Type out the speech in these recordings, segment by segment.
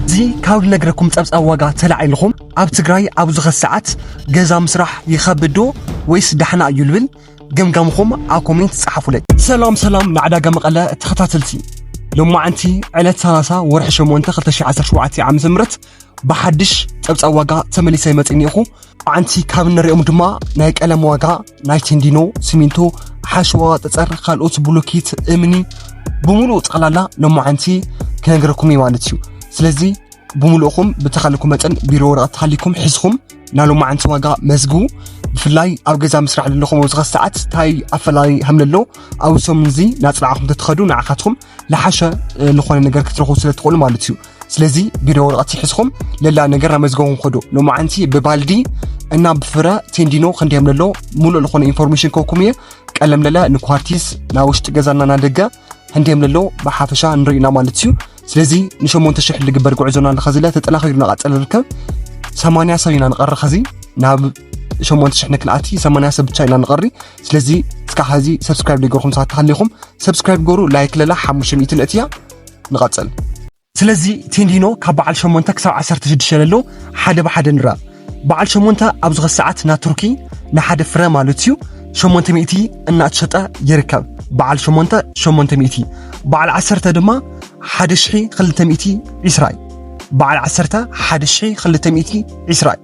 እዚ ካብ ልነግረኩም ጸብጻብ ዋጋ ተላዒልኹም ኣብ ትግራይ ኣብ ዝኸስ ሰዓት ገዛ ምስራሕ ይኸብድ ዶ ወይስ ዳሕና እዩ ልብል ገምጋምኹም ኣብ ኮሜንት ጸሓፉለይ። ሰላም ሰላም ንዕዳጋ መቐለ ተኸታተልቲ ሎማዓንቲ ዕለት 30 ወርሒ 8 2017 ዓ ም ብሓድሽ ፀብፃብ ዋጋ ተመሊሰ ይመፅ እኒኹ ዓንቲ ካብ እንሪኦም ድማ ናይ ቀለም ዋጋ ናይ ቴንዲኖ ሲሚንቶ ሓሸዋ ጠፀር ካልኦት ብሎኬት እምኒ ብምሉእ ጠቕላላ ሎማዓንቲ ክነግረኩም እዩ ማለት እዩ ስለዚ ብምሉእኹም ብተኻለኩም መጠን ቢሮ ወረቐት ሃሊኩም ሒዝኩም ናይ ሎማዓንቲ ዋጋ መዝግቡ ብፍላይ ኣብ ገዛ ምስራሕ ዘለኹም ወዝኻ ሰዓት እንታይ ኣፈላላይ ሃምለሎ ኣብ ሰሙን እዚ ናፅናዕኹም ተትኸዱ ንዓኻትኩም ልሓሸ ልኾነ ነገር ክትረኽቡ ስለ ትኽእሉ ማለት እዩ ስለዚ ቢሮ ወረቐት ይሕዝኹም ለላ ነገር ናብ መዝገቡም ከዶ ሎማዓንቲ ብባልዲ እና ብፍረ ቴንዲኖ ክንደም ለሎ ሙሉእ ልኾነ ኢንፎርሜሽን ከኩም እየ ቀለም ለላ ንኳርቲስ ናብ ውሽጢ ገዛና ናደገ ህንደም ለሎ ብሓፈሻ ንሪእና ማለት እዩ ስለዚ ንሸሞንተ ሽሕ ልግበር ጉዕዞና ኣለኸ ዝለ ተጠናኺሩ ናቐፀለ ርከብ ሰማንያ ሰብ ኢና ንቐሪ ኸዚ ናብ ሸሞንተ ሽሕ ንክንኣቲ ሰማንያ ሰብ ብቻ ኢና ንቐሪ ስለዚ እስካዕ ሐዚ ሰብስክራይብ ዘይገርኩም ሰባት ተሃሊኹም ሰብስክራይብ ገሩ ላይክ ለላ ሓሙሽተ ሚእቲ ነእትያ ንቐፅል ስለዚ ቴንዲኖ ካብ በዓል ሸሞንተ ክሳብ ዓሰርተ ሽዱሽተ ለሎ ሓደ ብሓደ ንራ በዓል ሸሞንተ ኣብ ዝኸ ሰዓት ናብ ቱርኪ ንሓደ ፍረ ማለት እዩ ሸሞንተ ሚእቲ እናተሸጠ ይርከብ በዓል ሸሞንተ ሸሞንተ ሚእቲ በዓል ዓሰርተ ድማ ሓደ ሽሒ ክልተ ሚእቲ ዒስራ እዩ በዓል ዓሰርተ ሓደ ሽሒ ክልተ ሚእቲ ዒስራ እዩ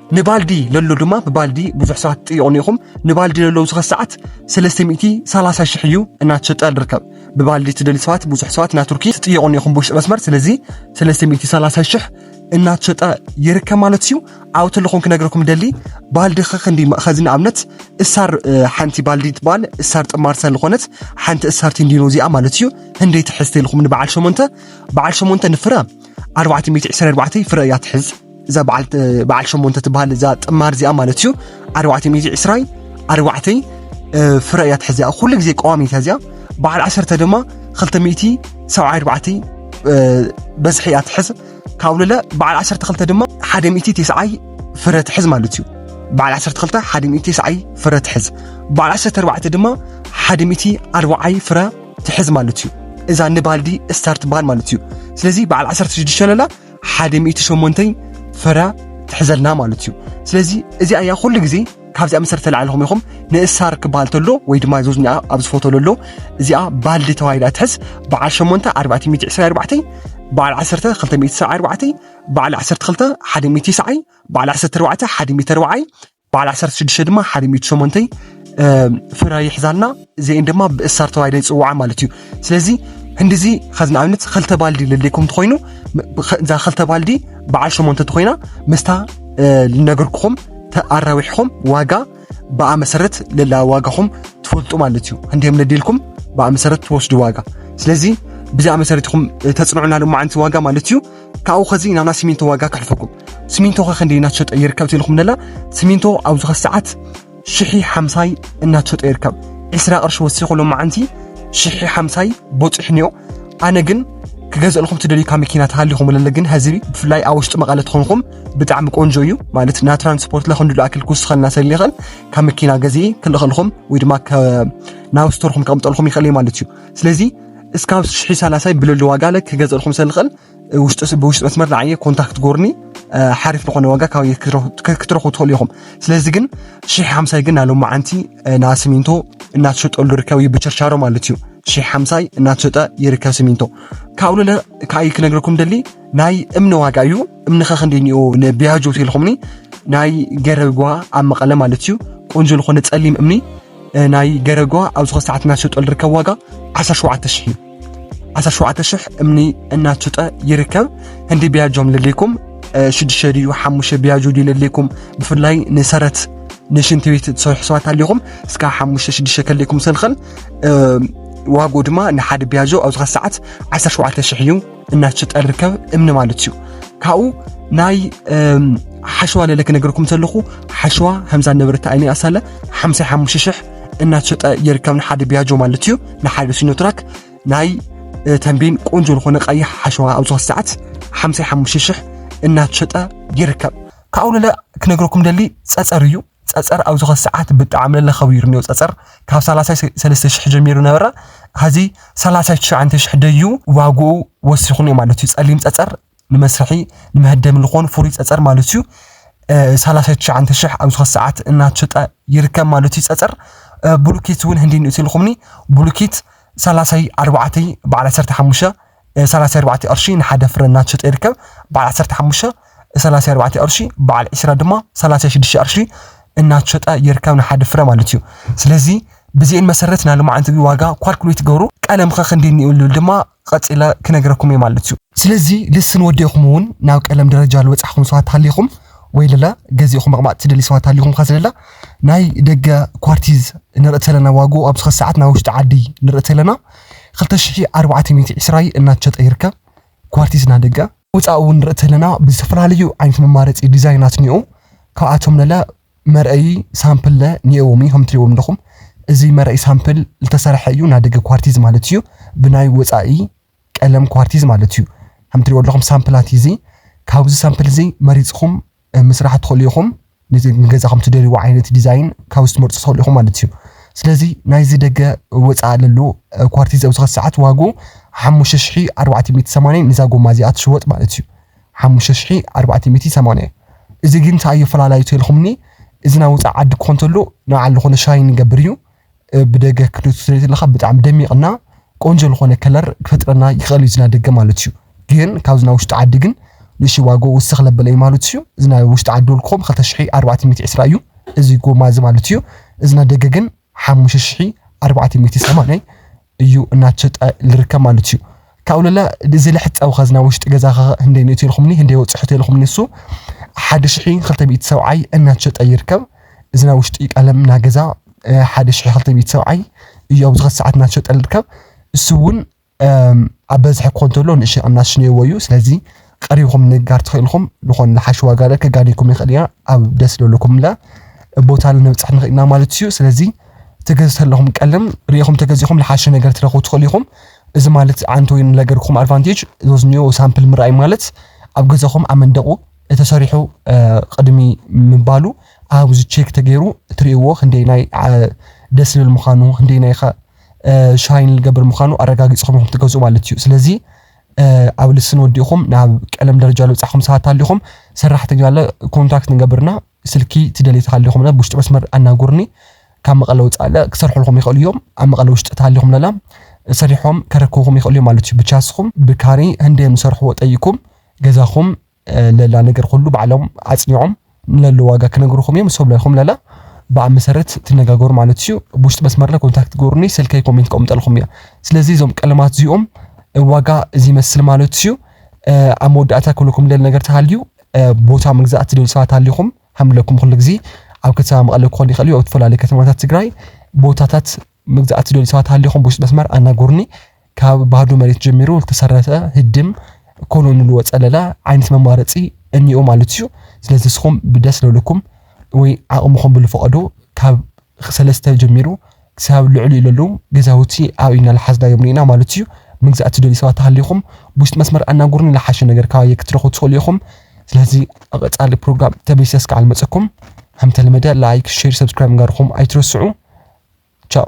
ንባልዲ ለሎ ድማ ብባልዲ ብዙሕ ሰባት ትጥይቑኒ ኢኹም ንባልዲ ለሎ ኣብዚ ሰዓት 330 ሽሕ እዩ እናተሸጠ ንርከብ ብባልዲ ትደሊ ሰባት ብዙሕ ሰባት ናብ ቱርኪ ትጥይቑኒ ኢኹም ብውሽጢ መስመር ስለዚ 330 ሽሕ እናተሸጠ ይርከብ ማለት እዩ ኣብ ተለኹም ክነግረኩም ደሊ ባልዲ ከክንዲ ኸዚ ንኣብነት እሳር ሓንቲ ባልዲ ትበሃል እሳር ጥማር ሰለኾነት ሓንቲ እሳር ቲንዲኖ እዚኣ ማለት እዩ ህንደይ ትሕዝ ተልኹም ንበዓል ሸሞንተ በዓል ሸሞንተ ንፍረ 424 ፍረ እያ ትሕዝ እዛ በዓል ሸሞንተ ትበሃል እዛ ጥማር እዚኣ ማለት እዩ ኣርባዕተ ሚእቲ ዕስራይ ኣርባዕተይ ፍረ እያ ትሕዝ እያ ኩሉ ግዜ ቀዋሚት እያ እዚኣ በዓል ዓሰርተ ድማ ክልተ ሚእቲ ሰብዓ ኣርባዕተይ በዝሒ እያ ትሕዝ ካብ ልለ በዓል ዓሰርተ ክልተ ድማ ሓደ ሚእቲ ተስዓይ ፍረ ትሕዝ ማለት እዩ በዓል ዓሰርተ ክልተ ሓደ ሚእቲ ተስዓይ ፍረ ትሕዝ በዓል ዓሰርተ ኣርባዕተ ድማ ሓደ ሚእቲ ኣርባዓይ ፍረ ትሕዝ ማለት እዩ እዛ ንባልዲ ስታር ትበሃል ማለት እዩ ስለዚ በዓል ዓሰርተ ሽዱሽተ ለላ ሓደ ሚእቲ ሸሞንተይ ፍረ ትሕዘልና ማለት እዩ ስለዚ እዚኣ እያ ኩሉ ግዜ ካብዚኣ መሰረት ተላዕልኹም ኢኹም ንእሳር ክበሃል ተሎ ወይ ድማ ዞዝኒኣ ኣብ ዝፈቶ ለሎ እዚኣ ባልዲ ተባሂላ ትሕዝ በዓል ሸሞንተ ኣርባዕተ ሚእቲ ዕስራ ኣርባዕተይ በዓል ዓሰርተ ክልተ ሚእቲ ሰብዓ ኣርባዕተይ በዓል ዓሰርተ ክልተ ሓደ ሚእቲ ሰዓይ በዓል ዓሰርተ ኣርባዕተ ሓደ ሚእቲ ኣርባዓይ በዓል ዓሰርተ ሽዱሽተ ድማ ሓደ ሚእቲ ሸሞንተይ ፍረ ይሕዛልና እዚአን ድማ ብእሳር ተባሂለ ይፅውዓ ማለት እዩ ስለዚ ህንዲዚ ከዚ ንኣብነት ክልተ ባልዲ ለለይኩም ትኮይኑ እዛ ክልተ ባልዲ በዓል ሸሞንተ ትኮይና ምስታ ልነገርኩኹም ተኣራዊሕኹም ዋጋ ብኣ መሰረት ለላ ዋጋኹም ትፈልጡ ማለት እዩ ህንዲም ለዲልኩም ብኣ መሰረት ትወስዱ ዋጋ ስለዚ ብዚኣ መሰረት ኢኹም ተፅንዑና ሎማዓንቲ ዋጋ ማለት እዩ ካብኡ ከዚ ናብ ናይ ሲሚንቶ ዋጋ ከሕልፈኩም ሲሚንቶ ከ ክንደይ እናተሸጠ ይርከብ ትኢልኩም ደላ ሲሚንቶ ኣብዚ ከ ሰዓት ሽሒ ሓምሳይ እናተሸጠ ይርከብ ዕስራ ቅርሺ ወሲኹ ሎማዓንቲ ሽሒ ሓምሳይ ቦፂሑ ኒኦ ኣነ ግን ክገዝእልኩም ትደልዩ ካብ መኪና ተሃሊኹም ለለ ግን ህዝቢ ብፍላይ ኣብ ውሽጢ መቐለ ትኾንኩም ብጣዕሚ ቆንጆ እዩ ማለት ና ትራንስፖርት ለክንድሉ ኣክል ክውስኸልና ሰለ ይኽእል ካብ መኪና ገዜ ክልኽልኹም ወይ ድማ ናብ ስቶርኩም ከቕምጠልኩም ይኽእል ማለት እዩ ስለዚ እስካብ ሽሒ ሰላሳይ ብልሉ ዋጋ ላይ ክገዘልኩም ሰልኽእል ውሽጢ ብውሽጢ መስመር ንዓየ ኮንታክት ጎርኒ ሓሪፍ ዝኾነ ዋጋ ካብ ክትረኽቡ ትኽእሉ ኢኹም ስለዚ ግን ሽሒ ሓምሳይ ግን ናሎም መዓንቲ ና ሲሚንቶ እናተሸጠሉ ርከብ እዩ ብቸርቻሮ ማለት እዩ ሽሒ ሓምሳይ እናተሸጠ ይርከብ ሲሚንቶ ካብኡ ልለ ከዓይ ክነግረኩም ደሊ ናይ እምኒ ዋጋ እዩ እምኒ ከክንዲ ኒኦ ንቢያጆ ቴልኹምኒ ናይ ገረጓ ኣብ መቐለ ማለት እዩ ቆንጆ ዝኾነ ጸሊም እምኒ ናይ ገረጓ ኣብ ዝኾነ ሰዓት እናሸጦ ዝርከብ ዋጋ 17 ሽሕ እዩ 17 ሽሕ እምኒ እናሸጠ ይርከብ ህንዲ ቢያጆም ልልኩም ሽዱሽተ ድዩ ሓሙሽተ ቢያጆ ድዩ ልልኩም ብፍላይ ንሰረት ንሽንቲ ቤት ትሰርሑ ሰባት ኣለኹም እስካ ሓሙሽተ ሽዱሽተ ከልኩም ስንክል ዋግኡ ድማ ንሓደ ቢያጆ ኣብ ዝኾነ ሰዓት 17 ሽሕ እዩ እናሸጠ ዝርከብ እምኒ ማለት እዩ ካብኡ ናይ ሓሸዋ ለለ ክነገርኩም ዘለኹ ሓሸዋ ከምዛ ነበረት ኣይነ ኣሳለ ሓምሳ ሓሙሽተ ሽሕ እናሸጠ ይርከብ ንሓደ ቢያጆ ማለት እዩ ንሓደ ሲኖትራክ ናይ ተንቤን ቆንጆ ዝኾነ ቀይሕ ሓሸዋ ኣብ ዝኾነ ሰዓት ሓምሳ ሓሙሽተ ሽሕ እናሸጠ ይርከብ ካብኡ ለለ ክነገርኩም ደሊ ፀፀር እዩ ጸጸር ኣብዚ ከዚ ሰዓት ብጣዕሚ ለለ ከቢሩኒ ጸጸር ካብ ሰላሳ ሰለስተ ሽሕ ጀሚሩ ነበረ ሀዚ ሰላሳ ትሽዓንተ ሽሕ ደዩ ዋግኡ ወሲኹኒ ማለት እዩ ጸሊም ጸጸር ንመስርሒ ንመሀደሚ ልኾን ፍሩይ ጸጸር ማለት እዩ ሰላሳ ትሽዓንተ ሽሕ ኣብዚ ከዚ ሰዓት እናተሸጠ ይርከብ ማለት እዩ ጸጸር ብሉኬት እውን ህንዲ ንእቲ ኢልኹምኒ ብሉኬት ሰላሳይ ኣርባዕተይ በዓል ዓሰርተ ሓሙሽተ ሰላሳ ኣርባዕተ ቅርሺ ንሓደ ፍረ እናተሸጠ ይርከብ። በዓል ዓሰርተ ሓሙሽተ ሰላሳ ኣርባዕተ ቅርሺ፣ በዓል ዒስራ ድማ ሰላሳ ሽዱሽተ ቅርሺ እናተሸጠ ይርከብ ንሓደ ፍረ ማለት እዩ። ስለዚ ብዚኤን መሰረት ናይ ልማዓት ዝቢ ዋጋ ኳልኩሌት ትገብሩ። ቀለምኸ ክንዲ እኒኡ ልብል ድማ ቐጺለ ክነግረኩም እየ ማለት እዩ። ስለዚ ልስን ወዲእኹም እውን ናብ ቀለም ደረጃ ልበጻሕኹም ሰባት ተሃሊኹም ወይ ለለ ገዚእኹም መቕማጥ ትደልዩ ሰባት ተሃሊኹም ኸ ስለለ ናይ ደገ ኳርቲዝ ንርኢ ተለና ዋግኡ ኣብ ዝኸ ሰዓት ናይ ውሽጢ ዓዲ ንርኢ ተለና ክልተ ሽሕን ኣርባዕተ ሚእቲ ዕስራይ እናትሸጠ ይርከብ። ኳርቲዝ ናይ ደገ። ወፃኢ እውን ንርኢ ተለና ብዝተፈላለዩ ዓይነት መማረፂ ዲዛይናት እኒኦ። ካብኣቶም ለለ መርኣዪ ሳምፕል ለ ኒኦዎም እዩ። ከምትሪእዎም ኣለኹም እዚ መርኣዪ ሳምፕል ልተሰርሐ እዩ። ናይ ደገ ኳርቲዝ ማለት እዩ። ብናይ ወፃኢ ቀለም ኳርቲዝ ማለት እዩ። ከምትሪእዎ ኣለኹም ሳምፕላት እዩ እዚ። ካብዚ ሳምፕል እዚ መሪፅኹም ምስራሕ ትኽእሉ ኢኹም። ንገዛኹም ትደልይዎ ዓይነት ዲዛይን ካብዚ ትመርፁ ትኽእሉ ኢኹም ማለት እዩ። ስለዚ ናይዚ ደገ ወፃኢ ለሉ ኳርቲዝ ኣብዚ ኸዚ ሰዓት ዋጉ ሓሙሽተ ሽሒ ኣርባዕተ ሚእቲ ሰማንያ እዩ፣ ነዛ ጎማ እዚኣ ትሽወጥ ማለት እዩ። ሓሙሽተ ሽሒ ኣርባዕተ ሚእቲ ሰማንያ እዩ። እዚ ግን እንታይ ኣዩ ኣፈላላዩ ተልኹምኒ እዚ ናይ ወፃኢ ዓዲ ክኾን ተሎ ንባዕሉ ዝኾነ ሻይን ይገብር እዩ። ብደገ ክትሪኦ ትሪኦ ተለካ ብጣዕሚ ደሚቅ እና ቆንጆ ዝኾነ ከለር ክፈጥረና ይኽእል እዩ እዚ ናይ ደገ ማለት እዩ ግን ካብዚ ናይ ውሽጢ ዓዲ ግን ንእሽተይ ዋግኡ ውስኽ ለበለ እዩ ማለት እዩ እዚ ናይ ውሽጢ ዓዲ ዶል ክኾም ክልተ ሽሒ ኣርባዕተ ሚእቲ ዕስራ እዩ እዚ ጎማ እዚ ማለት እዩ እዚ ናይ ደገ ግን ሓሙሽተ ሽሒ ኣርባዕተ ሚእቲ ሰማንያ እዩ እናትሸጠ ልርከብ ማለት እዩ። ካብኡ ለለ እዚ ለሕፀዊ ከዚ ናብ ውሽጢ ገዛ ከኸ ህንደይ ንእትዮ ኢልኹምኒ ህንደይ ወፅሑት ኢልኹምኒ ንሱ ሓደ ሽሒ ክልተ ሚእቲ ሰብዓይ እናትሸጠ ይርከብ። እዚ ናይ ውሽጢ ቀለም እና ገዛ ሓደ ሽሒ ክልተ ሚእቲ ሰብዓይ እዩ ኣብዚ ከዚ ሰዓት እናትሸጠ ልርከብ እሱ እውን ኣብ በዝሒ ክኾን ተሎ ንእሽተይ ቅናሽ ነይዎ እዩ። ስለዚ ቀሪብኩም ንጋር ተኺእልኩም ልኾን ልሓሽ ዋጋለ ክጋኒኩም ይኽእል ኢና ኣብ ደስ ለሉኩምለ ቦታለ ንብጽሕ ንኽእል ኢና ማለት እዩ ስለዚ ትገዝ ተለኹም ቀልም ርኢኹም ተገዚኹም ልሓሸ ነገር ትረኽቡ ትኽእሉ ኢኹም እዚ ማለት ዓንቶ ወይ ንለገርኩም ኣድቫንቴጅ ዞዝኒኦ ሳምፕል ምርኣይ ማለት ኣብ ገዛኹም ኣብ መንደቑ ተሰሪሑ ቅድሚ ምባሉ ኣብዚ ቼክ ተገይሩ ትርእይዎ ክንደይ ናይ ደስ ልብል ምዃኑ ክንደይ ናይኻ ሻይን ልገብር ምዃኑ ኣረጋጊጽኹም ኢኹም ትገዝኡ ማለት እዩ ስለዚ ኣብ ልስን ወዲእኹም ናብ ቀለም ደረጃ ልውጻኹም ሰባት ኣሊኹም ሰራሕተኛ ኣለ ኮንታክት ንገብርና ስልኪ ትደልዩ ተሃሊኹም ለ ብውሽጢ መስመር ኣናጉርኒ ካብ መቐለ ውጻእ ኣለ ክሰርሑልኹም ይኽእሉ እዮም ኣብ መቐለ ውሽጢ ተሃሊኹም ለላ ሰሪሖም ከረክብኹም ይኽእሉ እዮም ማለት እዩ ብቻ ንስኹም ብካሪ ህንደዮም ዝሰርሕዎ ጠይኩም ገዛኹም ለላ ነገር ኹሉ ባዕሎም ኣጽኒዖም ንለሎ ዋጋ ክነግሩኹም እዮም እሶም ለይኹም ለላ ብኣ መሰረት ትነጋገሩ ማለት እዩ ብውሽጢ መስመርለ ኮንታክት ገሩኒ ስልከይ ኮሜንት ቀምጠልኹም እያ ስለዚ እዞም ቀለማት እዚኦም ዋጋ እዚ መስል ማለት እዩ ኣብ መወዳእታ ክብለኩም ደል ነገር ተሃልዩ ቦታ ምግዛእ ትደል ሰባት ኣሊኹም ሃምለኩም ኩሉ ግዜ ኣብ ከተማ መቐለ ክኾን ይኽእል እዩ ኣብ ዝተፈላለዩ ከተማታት ትግራይ ቦታታት ምግዛእ ትደል ሰባት ኣሊኹም ብውሽጢ መስመር ኣናገሩኒ ካብ ባዶ መሬት ጀሚሩ ዝተሰረተ ህድም ኮሎ ንልዎ ጸለላ ዓይነት መማረጺ እኒኦ ማለት እዩ። ስለዚ ንስኹም ብደስ ለለኩም ወይ ዓቕምኹም ብልፈቐዶ ካብ ሰለስተ ጀሚሩ ክሳብ ልዕሊኡ ለለዉ ገዛውቲ ኣብ ኢድና ልሓዝናዮም ርኢና ማለት እዩ። ምግዛእ ትደልዩ ሰባት ተሃሊኹም ብውሽጢ መስመር ኣናግሩኒ ልሓሸ ነገር ካባየ ክትረኽቡ ትኽእሉ ኢኹም። ስለዚ ኣብ ቐጻሊ ፕሮግራም ተመሊሰ እስካዕ ልመጸኩም። ከምተለመደ ላይክ፣ ሼር፣ ሰብስክራይብ ምግባርኹም ኣይትረስዑ። ቻው።